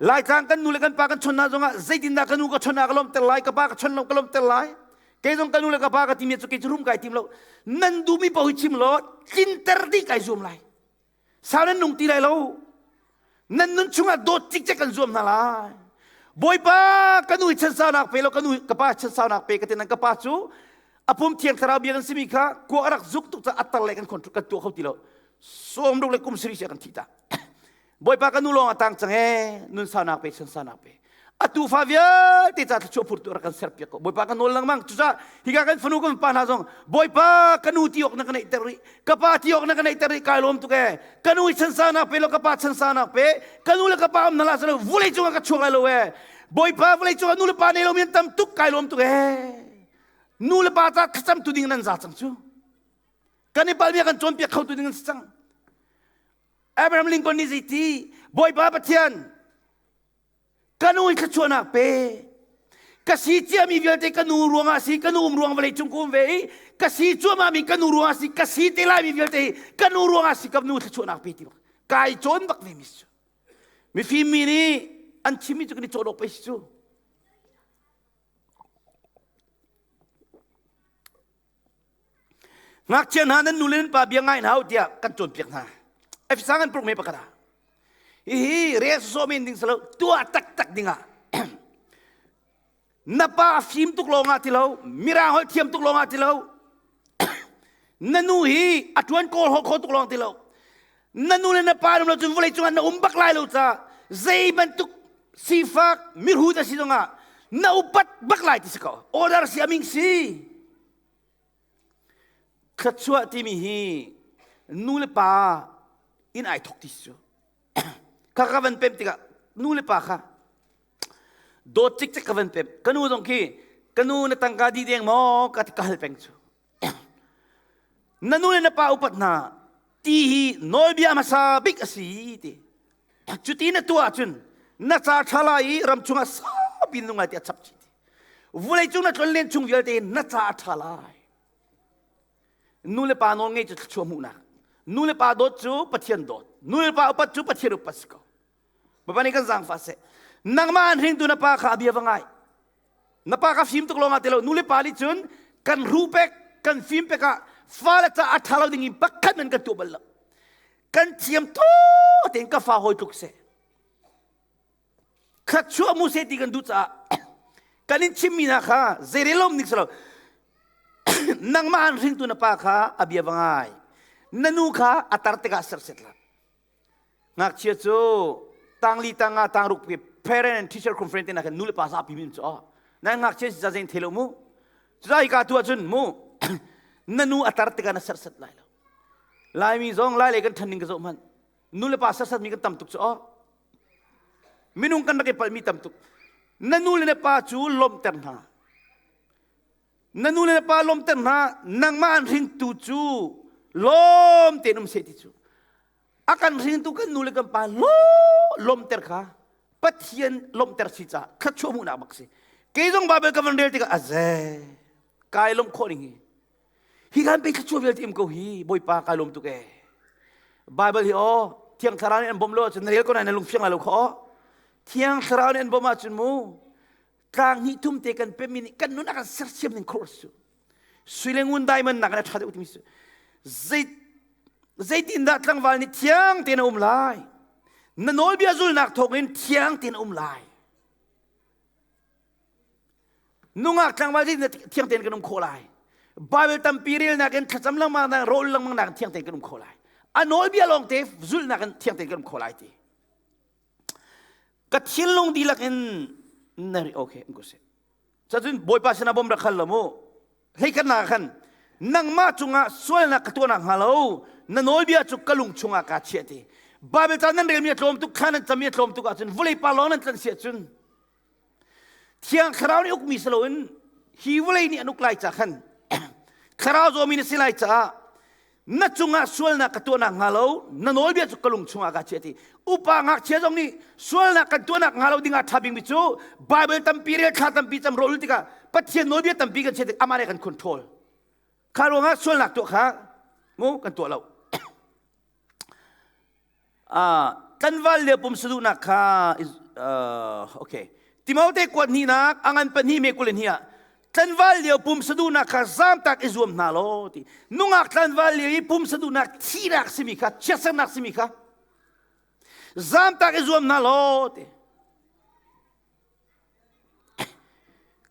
Laitlang kan nu le kan pa kan chon hna zongah zeitindah ka nu ka chon ah ka lawmter lai ka pa ka chon lo ka lawmter lai kei zong ka nu le ka pa ka timi cu kei cu rum kai tim lo nan duhmi pahu chim law tlinter dih kai zuam lai sau nan nung ti lai lo nan nun chungah dawt cikcek kan zuam hna lai bawipa ka nu i chan saunak pe lo ka nu ka pa chan saunak pe ka ti nan ka pa cu apum thiang thlarau bia kan simi kha kua a rak zuk tuk caah attar le kan kan tuah kho ti lo sawm ruk le kum sarih sia kan thih ta bawipa ka nu lawng a tang cang ee nun sanak pe san sanak pe atu fa vialte ca thluachuah phurtu rak kan ser piak ko bawipa ka nawl lengmang cucah higa kan fanu kan pa hna zong bawipa ka nu ti awk na ka neih ter rih ka pa ti awk na ka neih ter rih kai lawm tu ke ka nu i chan sanak pe lo ka pa chan sanak pe ka nu le ka pa am nala salo vulei cungah ka chuang lai lo e bawipa vulei cungah nu le pa nei lo mi an tam tuk kai lawm tu ke nu le pa ta thlacam tu ding nan za cang cu kan i palbia kan cawnpiak khotu ding an si cang abraham lincoln nih zeiti bawipa pathian ka nu i thluachuahnak pe ka si ciami vialte ka nu ruangah si ka nu um ruang vawlei cung ka um ve i ka si cuahmahmi ka nu ruangah si ka si te laimi vialte hi ka nu ruangah si ka nu thluachuahnak pe ti bak kai cawn bak ve mi si cu mifim mi nih an chimmi cu kan i cawhdawh pei si cu ngakchia hna nan nule nan pa bia ngai hna u tiah kan cawnpiak hna efisang an purhme pakhat ah hihi re sawsawh men ding silo tuah taktak dingah na pa fim tuk lawngah ti lo mira holh thiam tuk lawngah ti lo na nu hi a ṭuan kawl kho tuk lawng ti lo na nu le na pa ram lo cun vawlei cungah na um bak lai lo caah zei bantuk sifak miru da si zongah na upat bak lai ti si ko order si aming si thluachuah timi hi nu le pa in ai thok ti si cu kha ka van pem tikah nu le pa kha dawt cik cik ka van pem kanu zong khi kanu na tangka di deng maw ka ti ka hal peng cu Na nu le na pa upat hna ti hi nawlbia hmasa bik a si ti cuti na tuah ahcun na ca ṭha lai i ram chungah saupi nung lai ti a chap chih vulei cung na tlon len chung vialte na ca a ṭha lai nu le pa nawl ngei cu thluachuah hmuhnak nu le pa dawt cu pathian dawt nu le pa upat cu pathian upat si ko Baba nih kan zaangfa seh. Nangmah an hringtu na pa kha bia va ngai. Na pa kha fim tuk lawngah ti lo. Nule pa nih cun kan ruh pek, kan fim pek ah fale caah a ṭha lo ding in pakhat men kan tuah bal lo. Kan thiam to tein ka fa hawi tluk seh. Khat chuah mu seh ti kan duh caah kan in chimmi hna kha zeirel lawm ning si lo. nangmah an hringtu na pa kha a bia va ngai. Na nu kha a tar tikah serset la. ngakchia cu tangli tanga tangruk parent and teacher conference te nakin nu le pa zapi min cu nan ngakchia si zazeng thelo mu cuza hika tu ahcun mu na nu a tar tikah na sersat lai lo laimi zong lai le kan ṭhanning ka zoh hmanh nu le pa sersat mi kan tam tuk cu aw minung kan rak i palhmi tam tuk na nu le na pa cu lawmhter hna na nu le na pa lawmter hna nangmah an hringtu cu lawm tein um seh ti cu a kan hringtu kan nu le kan pa lawmter kha pathian lawmter si caah thluachuah hmuhnak bak si kei zong Bible ka van rel tikah a ze kai lawm khawh ning hi hi kan pe thluachuah vialte im ko hi bawipa kai lawm tu ke Bible hi o thiang thlarau nih an bawm lo ahcun na rel ko na lung fiang la lo kho thiang thlarau nih an bawm ahcun mu tlang hnih thum te kan pe mi nih kan nun a kan sersiam ning khor su sui le ngun dai man nak le tha deuh timi su zei zeitin dah tlangval nih thiang te na um lai na nawlbia zulnak thawk in thiang te na um lai nungak tlangval nih thiang ten kan um kho lai Bible tampi rel nak in thlacam langmang nak rol langmang nak thiang ten kan um kho lai a nawlbia lawng te zulnak in thiang ten kan um kho lai ti ka thinlung dihlak in na ri okay in kusih cacun bawipa sinah bom rak hal lo mu hei kan na khan nangmah cungah sualnak ka tuahnak hnga lo na nawlbia cu ka lung chungah kaa chiah ti bible ca nan relmi a tlawm tuk kha nan cami a tlawm tuk ahcun vulei pa lawng nan tlanh si ahcun Thiang thlarau nih ukmi si loin hi vawlei nih an uk lai caah khan thlarau zawmi na si lai caah na cungah sualnak ka tuahnak hnga lo na nawlbia cu ka lung chungah kaa chiah ti upa ngakchia zong nih sualnak kan tuahnak hnga lo dingah ṭha bingmi cu Baibal tampi rel thla tampi cam rawl tikah Pathian nawlbia tampi kan chiah tik amah nih kan control kha ruangah sualnak tuah kha mu kan tuah lo Tlanval lio pum saduhnak kha okay. Timote kuat hnihnak a ngan pahnih me kul in hih ah tlanval lio pum saduhnak kha zamtak i zuam hna law ti nungak tlanval lio i pum saduhnak thihnak simi kha chiatsernak simi kha zamtak i zuam hna law ti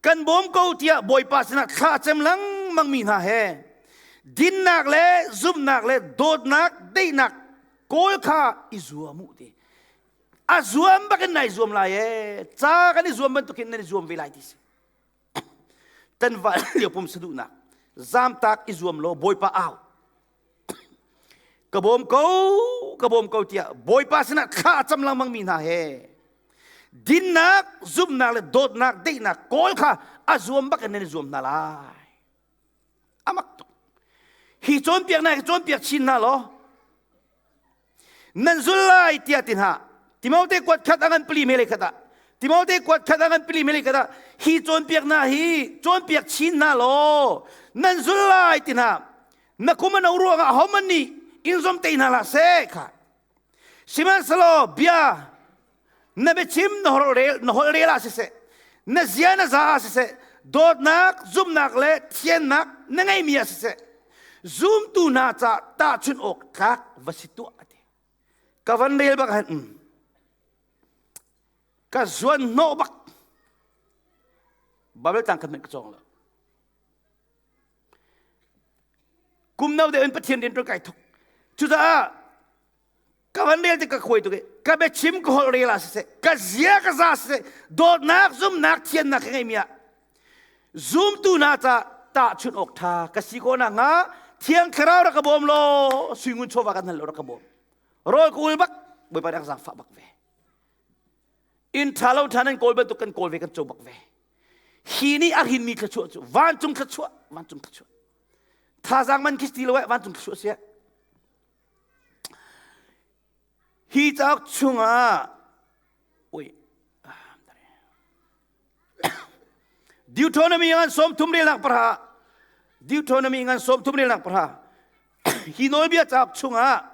kan bawm ko tiah Bawipa sinah thla cem lengmangmi hna he dinnak le zumhnak le dawtnak daihnak kawl kha i zuam u ti a zuam bakin nai zuam lai e ca kan i zuam bantukin nan i zuam ve lai ti si tan van lio pum saduhnak zamtak i zuam law Bawipa au ka bawm ko ka bawm ko tiah Bawipa sinah thla a cam lengmangmi hna he dinnak zumhnak le dawtnak deihnak kawl kha a zuam bak in nan zuam hna lai amak tuk hi cawnpiak na cawnpiak chin hna law nan zul lai tiah ti hna Timote kuat khat a ngan pali melei khat ah Timote kuat khat a ngan pali melei khat ah hi cawnpiak hna hi cawnpiak chin hna law nan zul lai ti hna na kum a no ruangah homan nih in zom te hna la seh kha sihmanhselaw bia na biachim na holh rel ah siseh na zia na za ah siseh dawtnak zumnak le thiannak na ngeimi ah siseh zumtu hna ca tahchunh awk tlak va si tuah a ti ka van rel bak hen mm. ka zuan hnawh bak babel tlang kan ka cawng lo kum no de in pathian din tu kai thuk cucaah ka van rel ti ka khuai tuk i ka biachim ka holh rel ah siseh ka zia ka za siseh dawtnak zumnak thiannak ka ngeimi ah zumtu hna ca tahchunh awk ṭha ka si ko nak hnga thiang thlarau rak ka bawm law suingun chawva kan hal lo rak ka bawm rawl ka ul bak bawipa rak zangfah bak ve in ṭha lo ṭha nan kawl bantuk kan kawl ve kan co bak ve hi ni a rin mi thlachuah cu vancung thlachuah vancung thlachuah thazang man khi ti lo eh vancung thlachuah sia Hi cauk chungah ui Deuteronomy ngan som thum relak para Deuteronomy ngan som thum relak para hi nawlbia cauk chungah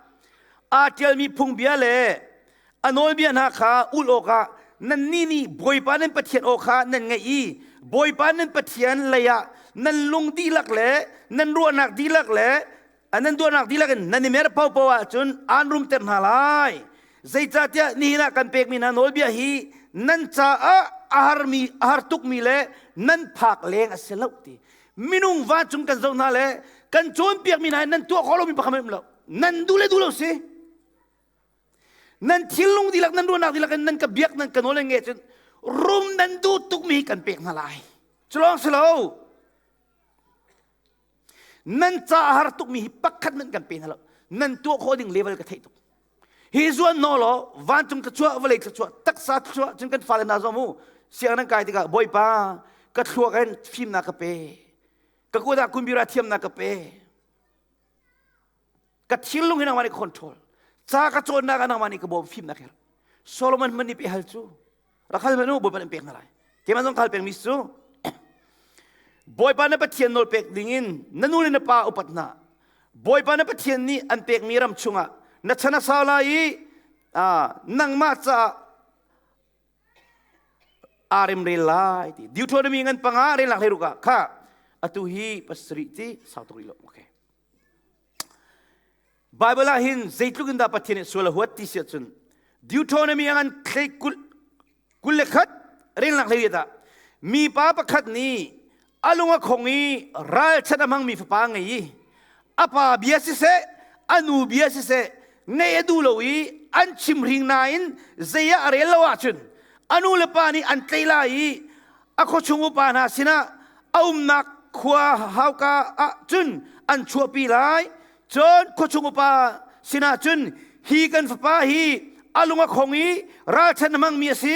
aa ṭialmi phungbia le a nawlbia hna kha ul awkah nan nih nih Bawipa nan Pathian aw kha nan ngaih i Bawipa nan Pathian leiah nan lung dihlak le nan ruahnak dihlak le nan tuahnak dihlak in nan i mer paohpaoh ahcun aan rumter hna lai zeicahtiah nihin ah kan pekmi hna nawlbia hi nan caah a harmi a har tukmi le nan phak leng a si lo ti minung vancung kan zoh hna le kan cawnpiakmi hna nan tuah khawh lomi pakhat um lo nan duh le duh lo si nan thinlung dihlak nan ruahnak dihlak in nan ka biak nan ka nawl le nge cun rum nan duh tukmi kan pek hna lai cu lawng si lo nan ca a har tukmi hi pakhat hmanh kan pe hna lo nan tuah khawh ding level ka theih tuk hi zuan no law vancung ka chuah vawlei ka chuah taksa ka chuah cun kan fale na zuam u siang nan kai tikah bawipa ka thluak in fimnak ka pe ka kuat ah kumbira thiamnak ka pe ka thinlung hi nangmah nih ka control ca ka cawnnak ah nangmah nih ka bawm fim na kher Solomon man nih pe hal cu rakhal man u bawipa nih pek na lai keimah zong khal pek mi cu bawipa na pathian nawl pek ding in na nu le na pa upat na bawipa na pathian nih an pek mi ram chungah na chan a sau lai i nangmah caah a rem rel lai ti deuteronomy ngan panga rel lak hlei ruka kha atu hi pasarih ti sau tuk rih lo okay Baibal ah hin zeitluk in dah Pathian nih sual a huat ti si ahcun Deuteronomy ah ngan thlei kul, kul le khat relnak hlei dah mipa pakhat nih a lung a khong i ralchat a hmangmi fapa a ngei i a pa bia siseh a nu bia siseh ngaih a duh lo i an chimhring nain zei ah a rel lo ahcun a nu le pa nih an tleih lai i a khuachung upa hna sinah a umnak khua hauka ah cun an chuahpi lai. Cun khuachung upa sinah cun, hi kan fapa hi a lung a khong i ralṭhen a hmangmi a si.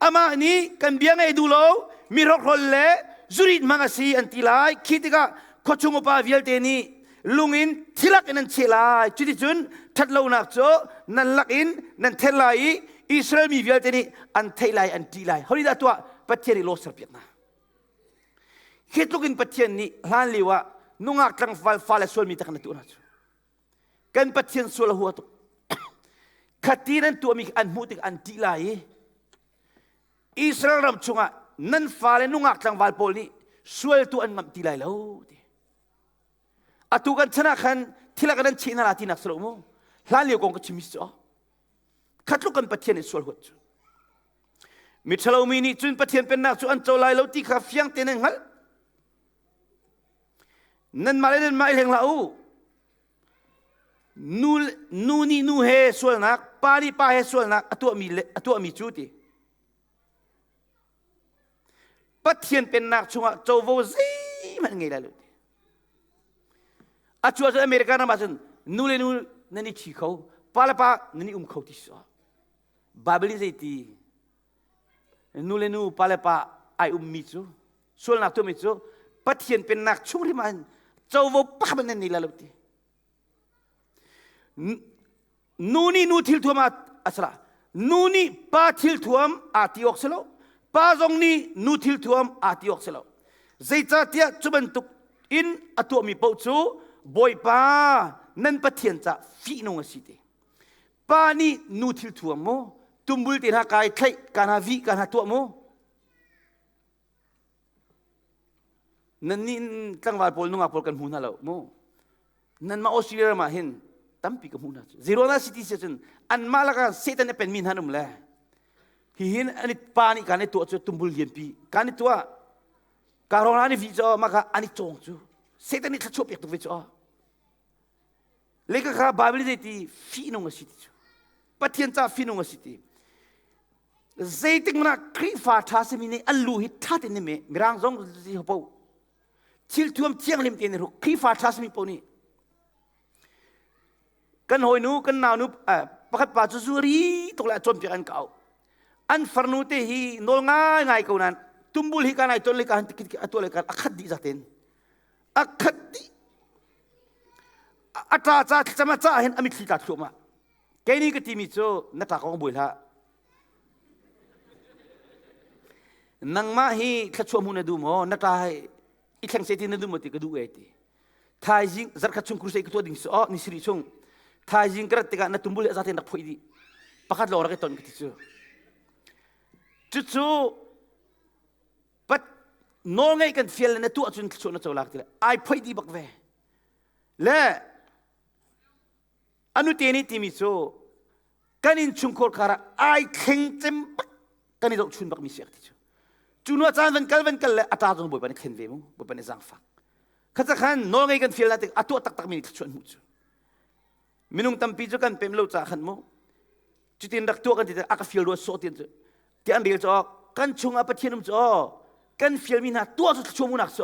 Amah nih kan bia ngei duh lo, mi hrokhrol le zurit hmang a si an ti lai. Khi tikah khuachung upa vialte nih lung in thirak in an cheh lai cuticun ṭhatlonak cu nan lak in nan then lai i Israel mi vialte nih an theih lai an ṭih lai hori dah tuah Pathian i law serpiak hna khi tluk in Pathian nih hlan lio ah nungak tlangval fale sual mi tak na tuah hna cu kan Pathian sual a hua tuk khati nan tuahmi an hmuh tik an ṭih lai i Israel ram chungah nan fale nungak tlangval pawl nih sualtu an ngamh ti lai lo ti atu kan chan ah khan thil ah kan an cheh hna la tinak si lo mu hlan lio kong ka chim si khat tluk kan pathian in sual huat cu miṭhalo mi nih cun pathian pennak cu an co lai lo ti kha fiang te nan hngalh nanmah le nanmah i leng la u nu, nu nih nu he sualnak pa nih pa he sualnak a tuahmi, a tuahmi cu ti Pathian pennak chungah covo zeihmanh ngei lai lo. A cuar cun America ram ahcun nu le nu nan i thi kho, pa le pa nan i um kho ti so. Baibal nih zeiti nu le nu pa le pa ai ummi cu sualnak tuahmi cu Pathian pennak chung rim ah covo pa hmanh nan nei la lo ti. Nu nih nu thil thuam a si la. Nu nih pa thil thuam aa ti awk si lo. Pa zong nih nu thil thuam aa ti awk si lo. Zeicahtiah cu bantuk in a tuahmi paoh cu Bawipa nan Pathian ca fihnung a si te. Pa nih nu thil thuam mu, tumbul te hna kai thlaih, ka hna vih, ka hna tuah mu. Nannih tlangval pawl nungak pawl kan hmu hna lo mu. Nanmah Australia ram ah hin tampi ka hmu hna cu. Zerona city si cun anmah lakah Satan a penmi hna an um le hihin an i pa nih kaan i tuah cu tumbul lianpi kaan i tuah ka rona nih vi cu mah kha an i cawng cu Satan nih thluachuah pek tuk ve cu lekha kha Bible zei ti fihnung a si ti cu Pathian caah fihnung a si ti zeitingrah Khrihfa ṭha simi nih an lu hi ṭha tein ne Mirang zong si ho thil thuam thiang lim tein ru Khrihfa ṭha simi po nih kan hawinu kan naunu pakhat pa cu zuri tuk le cawnpiak an kau an farnu te hi nawl ngai ngai ko nan tumbul hi ka nai ton li ka han tikit atua le ka akhat di zaten akhat di ata ca cama ca hin amit thli ta thluama Kei nih ka timi cu na tlak awk buai hlah. Nangmah hi thlachuah mu na duh maw? Na tla i thlengse ti na duh maw ti ka duh e ti. Thaizing zarkhat chung crusade ka tuah ding si aw ni siri chung thaizing ka rat tikah na tumbul hi a za te nak phoih dih pakhat lo rak i ton ka ti cu cucu pat nawlngaih kan fial le na tuah cun thluachuah na co lak ti le ai phoih dih bak ve le Anute ni timi cu kan in chungkhur karah ai thleng cem bak kan i zohchun bak mi si ti cu cu nu caan van kal van kal le a tar zong bawipa nih thlen ve mu bawipa nih zangfak khatsa khan nawl ngei kan fial na tik a tuah taktak mi nih thluachuan hmu cu minung tampi cu kan pem lo ca khan mu cutin rak tuah kan ti te a ka fial rua sawh tin cu ti an rel cu kan chung ah pathian um cu kan fial mi hna tuah cu thluachuah mu nak cu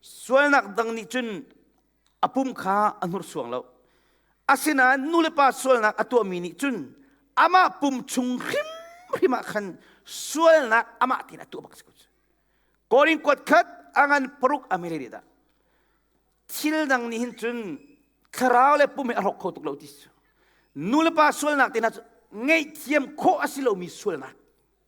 Sualnak dang nih cun a pum kha a hnursuang lo. Asinain nulepa sualnak a tuahmi nih cun amah pum chung hrimhrim ah khan sualnak amah tein a tuah bak si ko cu. Korin kuat khat a ngan paruk a mere dah. Thil dang nih hin cun thlarau le pum he a hrok kho tuk lo ti cu. Nulepa sualnak tehna cu ngeihthiam khawh a si lomi sualnak.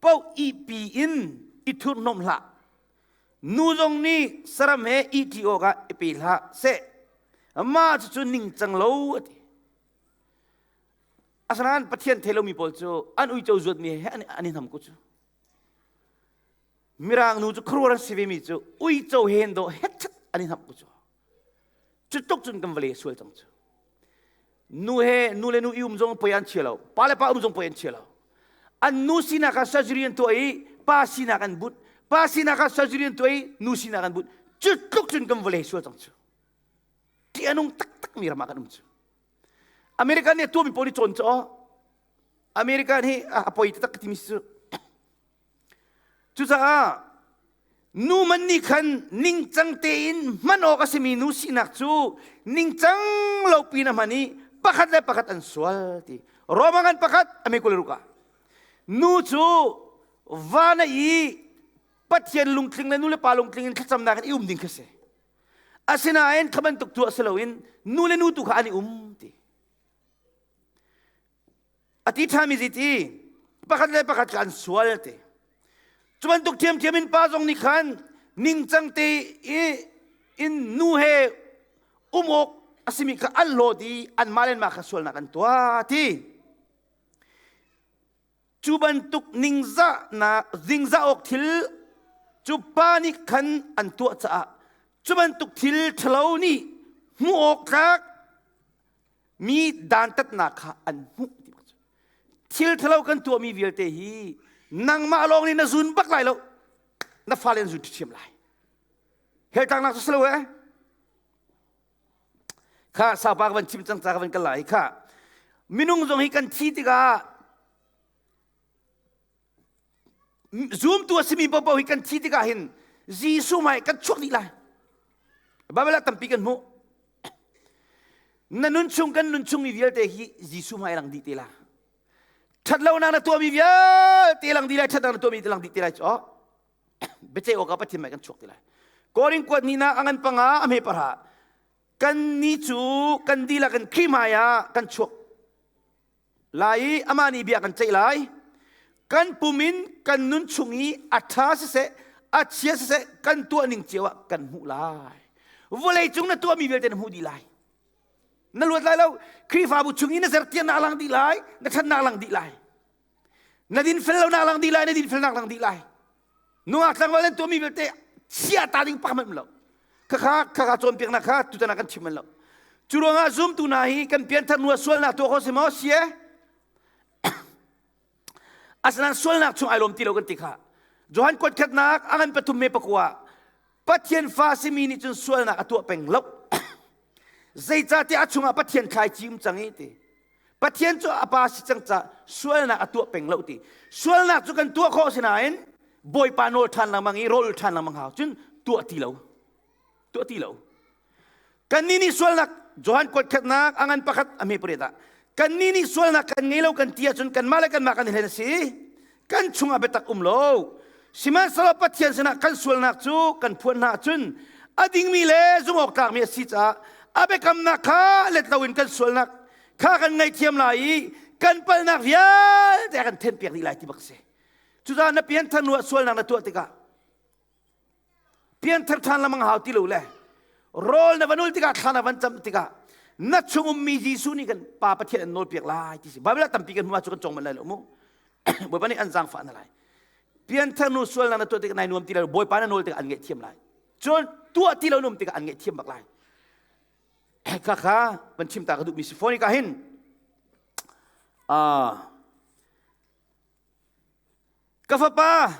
poh ihpi in i thurhnomh hlah. Nu zong nih saram he ihṭi awkah i pe hlah seh. Mah cucu ningcang lo a ti. Asanain Pathian thelomi pawl cu an uico zuatmi he an i nam ku cu. Mirang nu cu khuruar a si vemi cu uico hen do hetchat an i nam ku cu. Cutuk cun kan vale sual cang cu. Nu he nu le nu i um zong poi an chia lo. Pa le pa um zong poi an chia lo. An nu sinak ah surgery an tuah i pa sinak an but. Pa sinak ah surgery an tuah i nu sinak an but. Cutluk cun kan vale sual cang cu. Ti anung taktak mi ramah kan um cu. America nih a tuahmi pawl i cawn cu aw. America nih a poi taktak timi si cu. Cucaah numan nih khan ningcang tein hman awk a simi nu sinak cu ningcang lo pin a hman i pakhat le pakhat an sual ti. Roma ngan pakhat a me kule ruka. Nu cu van i Pathian lungtling le nu le pa lungtling in thlacamnak in i um ding kha si. Asinain kha bantuk tu a si loin nu le nu tu kha an i um ti. A ti ṭhami zi ti pakhat le pakhat kha an sual te. Cu bantuk ṭhiamṭhiam in pa zong nih khan ningcang te i in nu he um awk a simi kha an lawt i anmah le anmah kha sualnak an tuah ti. Cu bantuk ningzahnak zingzah awk thil cu pa nih khan an tuah caah cu bantuk thil ṭhalo nih hmuh awk tlak mi dantatnak kha an hmuh ti bak cu thil thalo kan tuahmi vialte hi nangmah lawng nih na zun bak lai lo na fale na zun ṭhiṭhiam lai heltaknak cu si lo ee kha saupa ka van chim cang ca ka van kal lai kha minung zong hi kan thi tikah Zumtu a simi paohpaoh hi kan thi tikah hin Jesuh hmai kan chuak dih lai. Baibal ah tampi kan hmuh. Na nunchung kan nunchung mi vialte hi Jesuh hmai lang dih te la. Ṭhatlonak na tuahmi vialte lang dih lai, ṭhatnak na tuahmi te lang dih te lai cu. Biaceih awk ah Pathian hmai kan chuak te lai. Korin kuat nihnak a ngan panga a hme parha. Kan ni cu kan dil ah kan khri hmai ah kan chuak lai i amah nih bia kan ceih lai kan pum in kan nun chung i a ṭha siseh a chia siseh kan tuahning cio ah kan hmuh lai vawlei cung na tuahmi vialte na hmuh dih lai na luat lai lo Khrihfabu chung i na sertian na lang dih lai na ṭhan na lang dih lai na dinfel lo na lang dih lai na dinfelnak lang dih lai nungak tlangval an tuahmi vialte chiah ta ding pakhat hmanh lo khakha khakha cawnpiaknak kha tutan ah kan chim lo cu ruangah zumtu hna hi kan pianthar nu sualnak tuah ko si maw sie asinain sualnak chung ai lawm ti lo kan ti kha johan kuat khatnak a ngan pathum me pakua Pathian fa simi nih cun sualnak a tuah peng lo. Zeicahtiah a chungah Pathian thlai cim cang i ti. Pathian cu a pa si cang ca sualnak a tuah peng lo ti. Sualnak cu kan tuah khawh si nain Bawipa nawl ṭhan lengmang i rawl ṭhan lengmang hau cun tuah ti lo. Tuah ti lo. Kannih nih sualnak Johan kuat khatnak a ngan pakhat a hme pariat ah kannih nih sualnak kan ngei lo kan ti ahcun kanmah le kanmah kan i hlen a si kan chungah biatak um lo sihmanhsehlaw Pathian sinah kan sualnak cu kan phuan hna ahcun a dingmi le zumhawktlakmi a si caah a biakamnak kha let loin kan sualnak kha kan ngaihthiam lai i kan palhnak vialte a kan thenpiak dih lai ti bak a si cucaah na pianthar nu ah sualnak na tuah tikah pianthar ṭhan le mang hau ti lo le rawl na van ul tikah thla na van cam tikah na chung ummi Jesuh nih kan pa Pathian an nawlpiak lai ti si Baibal ah tampi kan hmuh ah cu kan cawng manh lai lo mu Bawipa nih an zaangfah na lai pianthar nu sual na na tuah tikah nai nuam ti lai Bawipa na nawl tikah an ngaihthiam lai cun tuah ti lo nuam tikah an ngaihthiam bak lai khakha van chim ta ka duhmi si foni ka hin ah Ka fapa,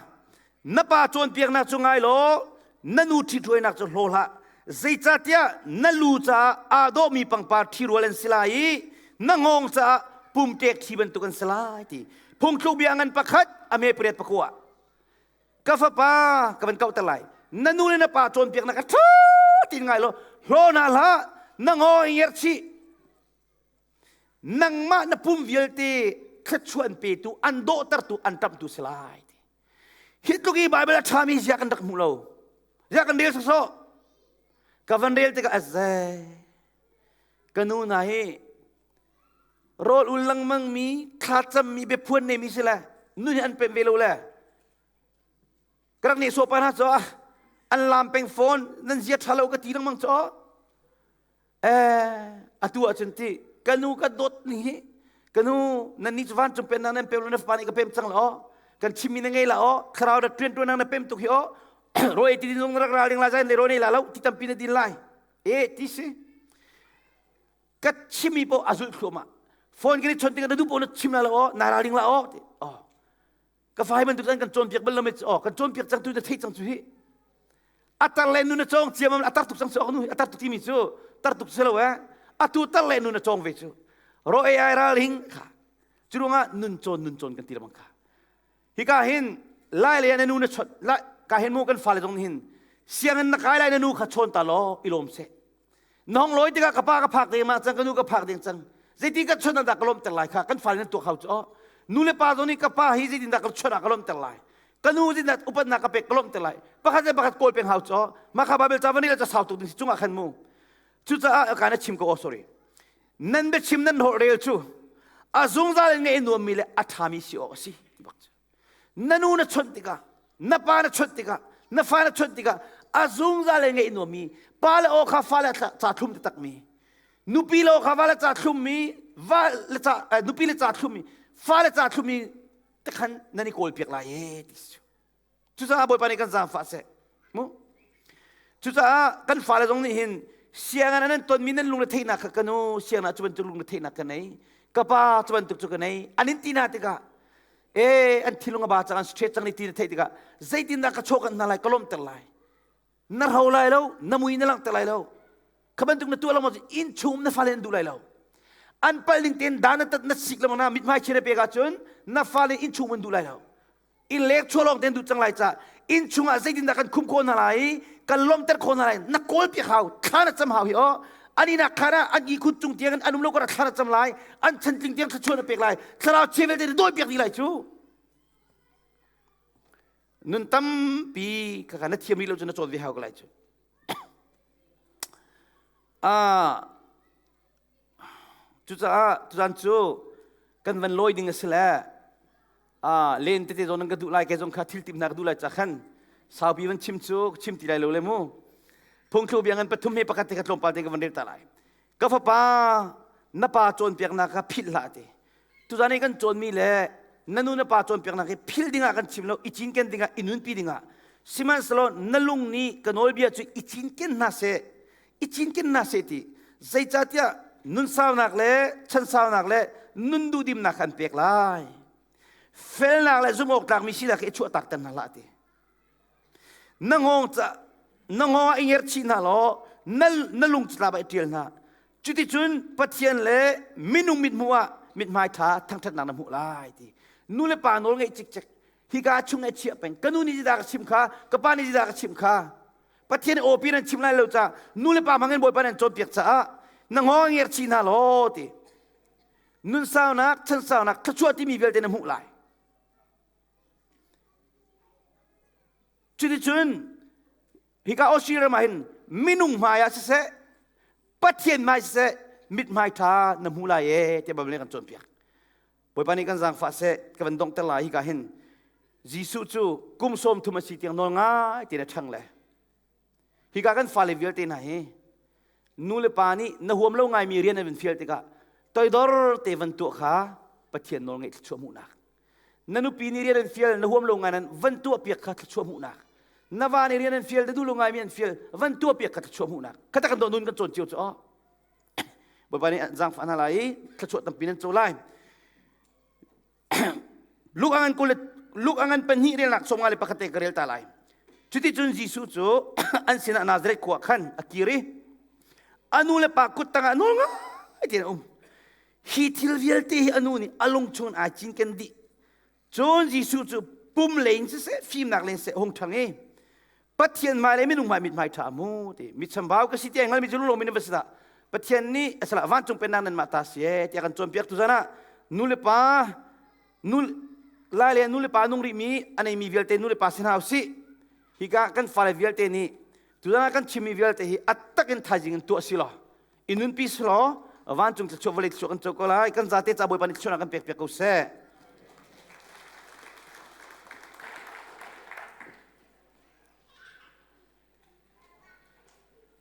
na pa cawnpiaknak cu ngai law na nu ṭhithruainak cu hlaw hlah. Zeicahtiah na lu caah aa dawhmi pangpar ṭhirual an si lai i na ngawng caah pumṭek thi bantuk an si lai, ti phungthluk bia ngan pakhat a me pariat pakua. Ka fapa, ka van kauhter lai, na nu le na pa cawnpiaknak kha ṭha tein ngai law hlaw hna hlah, na ngaw i ngerchih. nangmah na pum vialte thluachuan petu an dawhtertu an ṭamtu si lai hi tluk i Baibal a ṭhami zia kan rak hmu lo zia kan rel sawsawh ka van rel tikah a zei ka nu hna hi rawl ul lengmang mi thlacam mi biaphuan nei mi si le nu nih an pem ve lo le ka rak nehsawh pa hna cu an lam peng phone nan zia ṭha lo ka ti lengmang cu atu ahcun ti ka nu ka dawt ni hi ka nu nan nih cu van cung pen nang nan pem na fa nih ka pem cang la aw kan chimmi na ngei la aw thlarau rat ṭuan ṭuan nang na pem tuk hi aw ro e ti din zong rak ra ding la zan le ro nei la lo ti tampi na din lai e ti si ka chimmi po a zulh thluamah phone kan i chon tinga na du po na chim la lo aw na ral ding la aw ti aw ka fai bantuk an kan cawnpiak bal lo met oh kan cawnpiak cang tu na theih cang cu hi atar le nu na cawng ciam a tar tuk cang cu nu atar tuk timi cu tar tuk si lo eh atu tar le nu na cawng ve cu ro ai ral hing kha curunga nun cawn nun cawn kan ti lamang kha hi ka hin lai le na nu na chot lai ka hin mu kan fa le zong hin siangin na kai lai na nu kha chawn ta law ilom se Nong lawi tikah ka pa ka phak ding ah cang ka nu ka phak ding cang zeiti ka chun ah dah ka lawmter lai kha kan fa nih tuak hau cu nu le pa zong nih ka pa hi zeitin dah ka chun ah ka lawmter lai ka nu zeitin dah upatnak ka pek ka lawmter lai pakhat le pakhat kawl peng hau cu mah kha babel chavani ka casau tuk ding si cungah khan mu cucaah ka na chim ko oh sorry nan bia chim nan hor rel cu a zungzal in nge nuammi le a ṭhami si awk a si na nu na chawnh tikah na pa na chawnh tikah na fa na chawnh tikah a zungzal le ngeih nuam mi pa le aw kha fa le ca thlum ti takmi nupi le aw kha va le ca thlum mi va le ca nupi le ca thlum mi fa le ca thlum mi te khan nan i kawl piak lai e ti cucaah bawipa nih kan zaangfah seh mu cucaah kan fale zong nih hin sianginn ah nan tonmi nan lungretheinak kha ka nu sianginn ah cu bantuk lungretheinak ka nei ka pa cu bantuk cu ka nei an in ti hna tikah e an thinlung a ba cang an stress cang ni ti na theih tikah zeitindah ka chawh kan hna lai ka lawmter lai na ro lai lo na mui na langhter lai lo kha bantuk na tuah lo maw in chung na fale nan duh lai lo an pal ning tein dan na tat na sik le na mithmai chine pek ahcun na fale in chung an duh lai lo i lek chua lawng ten duh cang lai ca inn chungah zeitindah kan khum khawh hna lai i kan lawmter khawh hna lai na kawl piak hau thla na cam hau hi aw ani nak khan ah an ihkhut cung tiang an um lo kara thla na cam lai an chantling tiang thluachuah na pek lai thlarau chevel te dawi piak dih lai cu nun tampi ka kana thiam rih lo cu na chawn ve hau ka lai cu a Cucaah tuzan cu kan van lawi ding a si le len tete zawn nan ka duh lai kei zong kha thil timhnak ka duh lai cah khan saupi van chim cu chim ti lai lo le mu phungthlu biang in pathum he pakhat te kha tlawmpal te ka van rel ta lai ka fapa na pa cawnpiaknak kha philh hlah ti tuzan i kan cawnmi le na nu na pa cawnpiaknak hi phil dingah kan chim lo i cinken dingah i nunpi dingah sihmanhsehlaw na lung nih ka nawlbia cu i cinken hna seh i cinkennak seti zeicatiah nun saunak le chan saunak le nun duhdimnak kan pek lai felnak le zumhawktlak mi sinak i chuahtak ter hna la ti na ngong ca na ngong ah i ngerh chih hna law na na lung cu ba i ṭial hna cuticun pathian le minung mit hmu ah mithmai ṭha thangṭhatnak na hmuh lai ti nu le pa nawl ngeih cikcek hika chung ai chiah peng kanu nih zidah ka chim kha ka pa nih zidah ka chim kha Pathian aw pi nan chim lai lo ca nu le pa hmangin Bawipa nan cawnpiak caah na ngo ngerchi hna law ti nun saunak chan saunak thluachuah timi vialte na hmuh lai cuticun hika Australia ram ah hin minung hmai ah siseh Pathian hmai siseh mit hmai ṭha na hmuh lai e tiah Baibal kan cawnpiak Bawipa nih kan zaangfah seh ka van donghter lai hika hin Jesuh cu kum sawm thum a si tiang nawl ngai te na ṭhang le hika kan fale vialte hna hi nu le pa nih na huam lo ngaimi rian an van fial tikah toidor te van tuah kha Pathian nawl ngaih thluachuah hmuhnak na nupi nih rian an fial na huam lo ngai nan van tuah piak kha thluachuah hmuhnak na va nih rian an fial na duh lo ngaimi an fial van tuah piak kha thluachuah hmuhnak kha tak kan doh nun kan cawn cio cu oh Bawipa nih zaangfah hna lai i thluachuah tampi nan co lai. Luke angan kul Luke angan pahnih relnak chawma le pakhat te ka rel ta lai. Cuti cun Jesuh cu an sinah Nazareth khua khan a kir i a nu le pa kut tangah nawl ngai tein a um. Hi thil vialte hi a nu nih a lung chungin ai cinken dih. Cun Jesuh cu pum le in siseh fimnak le seh hung ṭhang i Pathian hmai le minung hmai mithmai ṭha mu ti mi chambau ka si ti ai hngalmi cu lulawm in a va si dah Pathian nih a salah vancung pennak nan mah ta si ee tiah kan cawnpiaktu zan ah nu le pa nu lai le nu le pa nung rih mi a nei mi vialte nu le pa si hna usih hika kan fale vialte nih tuzan ah kan chimmi vialte hi a tak in thaizing in tuah si law Inun pi selaw vancung thluachuah vawlei thluachuah kan co ko lai. Kan zate ca Bawipa nih thluachuah kan pek piak ko seh.